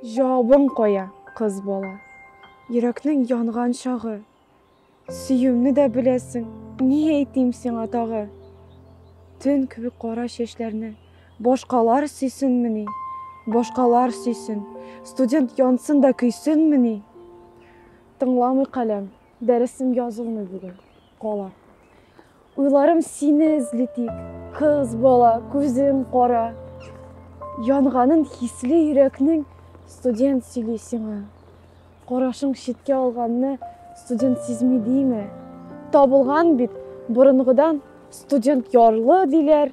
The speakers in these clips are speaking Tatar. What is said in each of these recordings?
Җавабың кая, кыз бала? Йөрәкнең янган чагы, Сөюемне дә беләсең, ни әйтим сиңа тагы? Төн кебек кара чәчләрне башкалар сөйсенмени? Башкалар сөйсен, студент янсын да көйсенмени? Тыңламый каләм, дәресем язылмый бүген, кала. Уйларым сине эзли тик. Кыз бала, күзең кара. Янганын хисле йөрәкнең студент сөйли сиңа. Карашың читкә алганны студент сизми дийме? Табылган бит борынгыдан студент ярлы диләр.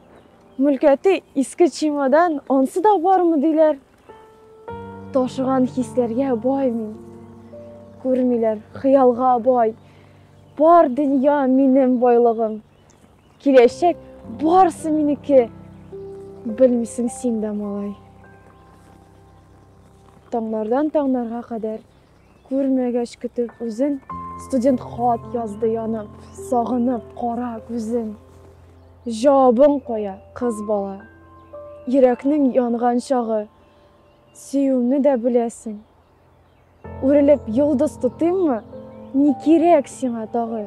Мүлкәти иске чемодан, ансы да бармы диләр. Ташыган хисләргә бай мин. Күрмиләр, хыялга бай. Бар дөнья минем байлыгым. Киләчәк барысы минеке. Белмисең син дә, малай. Таңнардан таңнарга кадәр Күрмәгәч көтеп үзен, студент хат язды янып, сагынып кара күзен. Җавабың кая, кыз бала? Йөрәкнең янган чагы, сөюемне дә беләсең. Үрелеп йолдыз тотыйммы? Ни кирәк сиңа тагы?